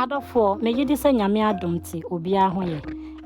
Adɔfoɔ, megye di sɛ Nyame adom nti obiara ho yɛ.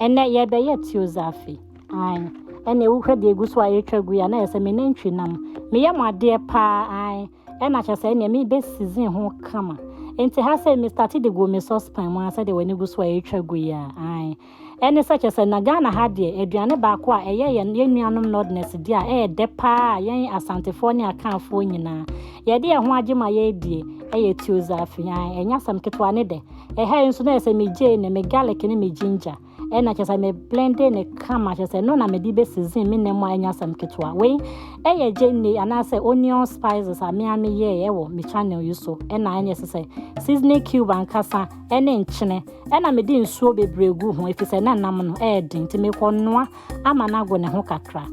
Ɛnɛ yɛbɛyɛ Teozafi. Ae. Ɛnna wohwɛ deɛ egu so a ɛretwa gu yi a na yɛ sɛ me nantwi nam. Meyɛ mo adeɛ paa ae. Ɛnna kyɛ sɛ ɛnneɛ mebɛ season ho kama. Nti ha sɛ me start de gu me saucepan mu a sɛdeɛ w'ani gu so a ɛretwa gu yi a ae. Ɛne sɛ, kyerɛ sɛ na Ghana ha deɛ, aduane baako a ɛyɛ yɛn yɛn nuanom Nordness deɛ a ɛyɛ dɛ paa a yɛn Asantefoɔ ne Akanfoɔ nyinaa yɛde yɛn ho agye ma yɛredie ɛyɛ Tiozaafi. Ae, ɛnyɛ asɛm ketewa ne dɛ. Ɛha yi nso na ɛyɛ sɛ me gyeene, me garlic ne me ginger ɛna kyerɛ sɛ me blende ne kama kyerɛ sɛ ɛno na mede bɛsizin me nam a ɛnyɛ asɛm ketewa. Wei ɛyɛ gyeene anaasɛ onion spices a me a meyɛɛ ɛwɔ me channel yi so ɛna ɛne ɛsɛ sɛ seasoning cube ankasa ɛne nkyene Ɛnna mede nsuo bebree guu ho, ɛfiri sɛ na nam no yɛ den, nti mekɔnoa ama no ago ne ho kakra.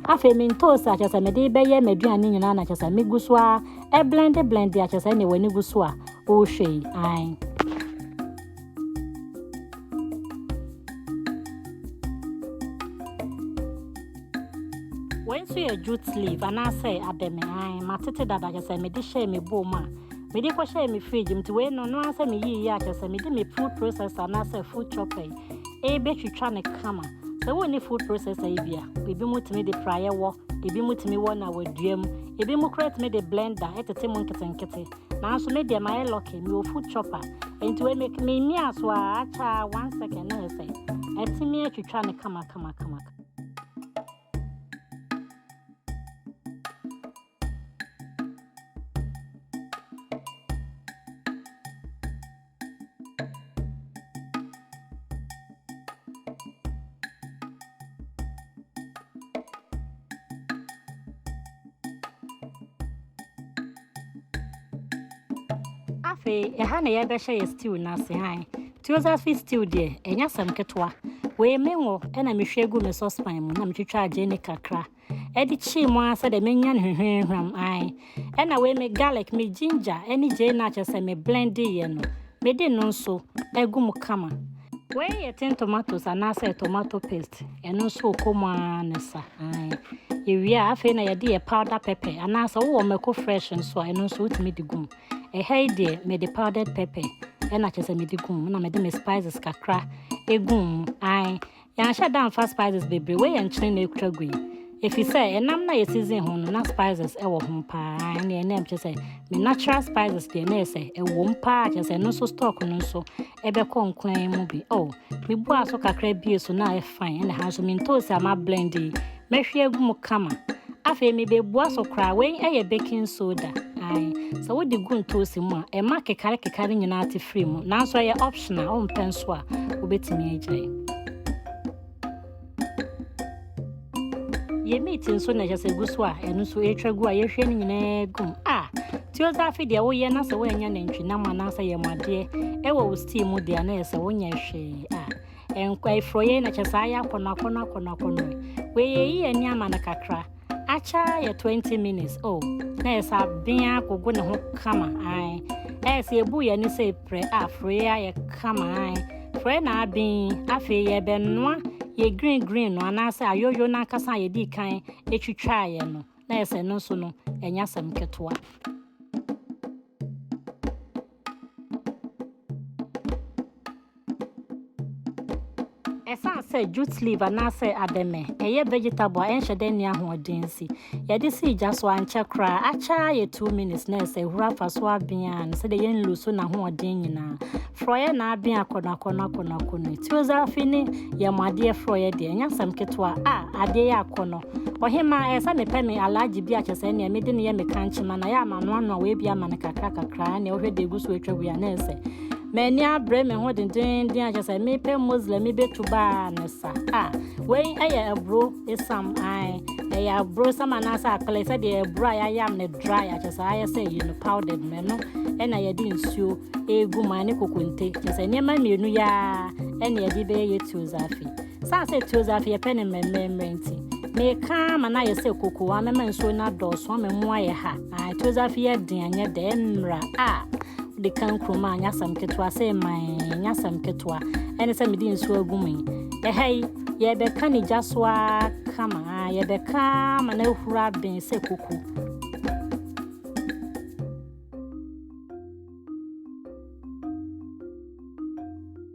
Afei me ntoosi a kyerɛ sɛ mede bɛyɛ m'aduane nyinaa na kyerɛ sɛ megu so ara ɛblɛnde blɛnde a kyerɛ sɛ ɛnna w'ani gu so a wohwɛ yi ae. Wei nso yɛ jute leaf anaasɛ abɛmɛ ae matete dada kyerɛ sɛ mede hyɛɛ me bowl mu a Mede kɔhyɛɛ me fridge mu, nti wei no ɔno ankasa meyii yɛ a kyerɛ sɛ mede me food processor anaasɛ food chopper yi rebɛtwitwa no kama. Sɛ wonni food processor yi bi a, ebinom tumi de praeɛ wɔ, ebinom tumi wɔ na wɔadua mu, ebinom koraa tumi de blender tete mu nketenkete. Nanso me deɛ mayɛ lucky, mewɔ food chopper, nti wei me memiaa so a akyɛ a one second na yɛ sɛ atumi atwitwa no kama kama kama. afei ɛha na yɛbɛhyɛ yɛ stew no ase han teosophy stew deɛ ɛnyɛ asɛm ketewa wei me wɔ ɛna mehwie gu me saucepan mu na metwitwa agye ne kakra ɛde kyee mu ara sɛ dɛ menya no hwehwɛnhwam, ae, ɛna wei me garlic, me ginger ne gyai no a kyerɛ sɛ me blendeeɛ no, mede no nso agu mu kama. Wei yɛ tin tomatoes anaasɛ tomato paste, ɛno nso wokɔ mu ara ne sa, ae. Yɛwie a, afei na yɛde yɛ powder pepper anaasɛ wowɔ mako fresh nso a, ɛno nso wotumi de gu mu. Ɛha yi deɛ, mede powdered pepper ɛna kyerɛ sɛ mede gu mu, ɛna mede me spices kakra gu mu, ae. Yɛanhyɛ da amfa spices bebree wei yɛ nkyene na ekura gu yi efisɛ ɛnam na yɛ season ho no na spices ɛwɔ ho paa ɛne ɛnam kyerɛ sɛ me natural spices deɛ na yɛ sɛ ɛwom paa kyerɛ sɛ ɛno nso stock no nso ɛbɛkɔ nkoan mu bi oh mebua so kakra bie so na ɛfan ɛna ha nso mentoosi a ma blend yi Mɛhwie agu mu kama. Afei mebebua so koraa. Wei yɛ baking soda. Ae. Sɛ wode gu ntoosi mu a, ɛma kekare kekare nyinaa te firi mu. Nanso ɛyɛ optional. Wompɛ nso a, wobɛtumi agyae. Yɛ meat nso na ɛhyɛ sɛ gu so a, ɛno nso ɛretwa gu a yɛhwie no nyinaa gu mu. A. Teozafe deɛ woyɛ na sɛ woanya nantwinam anaasɛ yɛmmadeɛ ɛwɔ wo steam mu deɛ a na ɛyɛ sɛ wonyɛ hwee. A. Ɛnkwa efuro yɛ na kyɛ saa yɛ akɔnɔ akɔnɔ akɔnɔ akɔnɔ. Wei yɛ yi yɛ ni ama no kakra. Akyɛ yɛ 20 minutes oh na yɛ saa bea gogo ne ho kama ae. Ɛyɛ sɛ ebu yɛ ne sɛ epirɛ a furo yɛ ayɛ kama ae. Furo yɛ na abin afei yɛ bɛ noa yɛ green green no anaasɛ ayoyo no ankasa a yɛdi kan etwitwa yɛ no na yɛ sɛ no nso no ɛnya sɛm ketewa. Ɛsan sɛ jute leaf anaasɛ abɛmɛ, ɛyɛ vegetable a ɛnhyɛ dɛ nni ahoɔden nsi. Yɛde si gya so ankyɛ koraa, akyɛ ara yɛ 2 minutes na ɛsɛ ehuru afa so abea no sɛdeɛ yɛn nlu so n'ahoɔden nyinaa. Frɔeɛ na abea akɔnɔ akɔnɔ akɔnɔ akɔnɔ. Tiozafi ne yɛn adeɛ frɔeɛ deɛ, ɛnyɛ asɛm ketewa a, adeɛ yɛ akɔnɔ. Ɔhemmaa, ɛyɛ sɛ mepɛ me alaagye bi a kyɛ sɛ nea mede no yɛ me kankyema na yɛ ama no ano a wɔabia ama no kakra kakra nea wohwɛ de egu so atwa wia na ɛsɛ. M'ani abere me ho dendenden a kyɛ sɛ mepɛ Muslim mi betu baa ne sa. Ah, wei ɛyɛ aburo esam ae. Ɛyɛ aburo esam anaasɛ akpele sɛ deɛ aburo a yɛayam ne dry a kyɛ sɛ ayɛ sɛ ɛyɛ no powdered no ɛno ɛna yɛde nsuo egu mu a ne kokonte kyɛ sɛ nneɛma mmienu yɛ a ɛna yɛde bɛyɛ yɛ tuo zafi. Saa sɛ Teozafe yɛpɛ no mmerɛmmerɛmmerɛ nti, meka ara ma no ayɛ sɛ kokoo a mɛma nsuo no adɔɔso ama mu ayɛ ha. Ae, Teozafe yɛ den, ɛnyɛ dɛ, ɛmmra. A, wode ka nkurom a, ɛnyɛ asɛm ketewa, sɛ ɛma ɛ, ɛnyɛ asɛm ketewa. Ɛne sɛ mede nsuo agu mu yi. Ɛha yi, yɛrebɛka ne gya so ara kama, a, yɛbɛka ara ma no ahuru aben sɛ koko.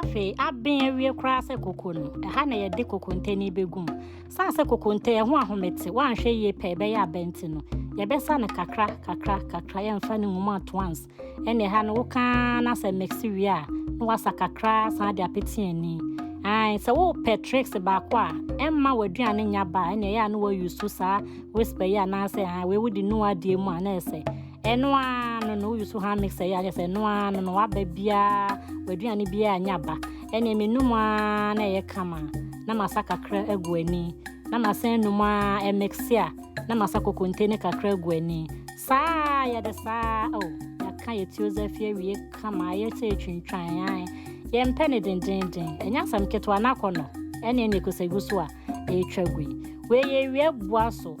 afei aben awie koraa sɛ koko no ɛha na yɛde kokonte no bɛgu mu san sɛ kokonte ɛho ahomete woanhwɛ yie pɛ ɛbɛyɛ abɛnti no yɛbɛsa no kakra kakra kakra yɛmfa no nwuma at once ɛne ɛha no wokaa na sɛ mɛksi wie a na wasa kakra san de apete ani Ae, sɛ wopɛ tricks baako a ɛmma w'aduane nya ba a ɛne ɛyɛ a na wɔyusu saa whisper yi anaasɛ wei wode nu adeɛ mu a na ɛsɛ ɛno ara no na woyusu ha mixer yi akyɛ sɛ ɛno ara no na waba biara w'aduane biara anya ba ɛne menum ara na ɛyɛ kama na masa kakra agu ani na masan num ara ɛmixe a na masa kokonte ne kakra agu ani saa yɛde saa o oh, yɛka yɛ tiozafi awie kama yɛ sɛ ɛtwintwan an yɛmpɛ ne dendenden ɛnyɛ asɛm ketewa no akɔ no ɛne ɛne ɛkɔsɛ gu so a ɛretwa gui wei yɛ awia boa so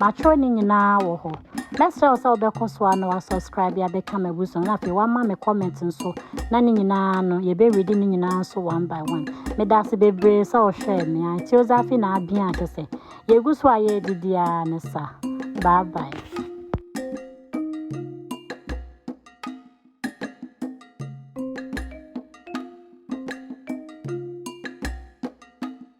Matwerɛ ne nyinaa wɔ hɔ. Mɛsrɛ wo sɛ wobɛkɔ so a na wasubscribe abɛka m'abusua mu na afei wama me comment nso na ne nyinaa no yɛbɛredi ne nyinaa nso one by one. Meda ase bebree sɛ wohwɛɛ me a. Teozafi na abea kyɛ sɛ yɛgu so a yɛredidi ara ne sa. Bye bye.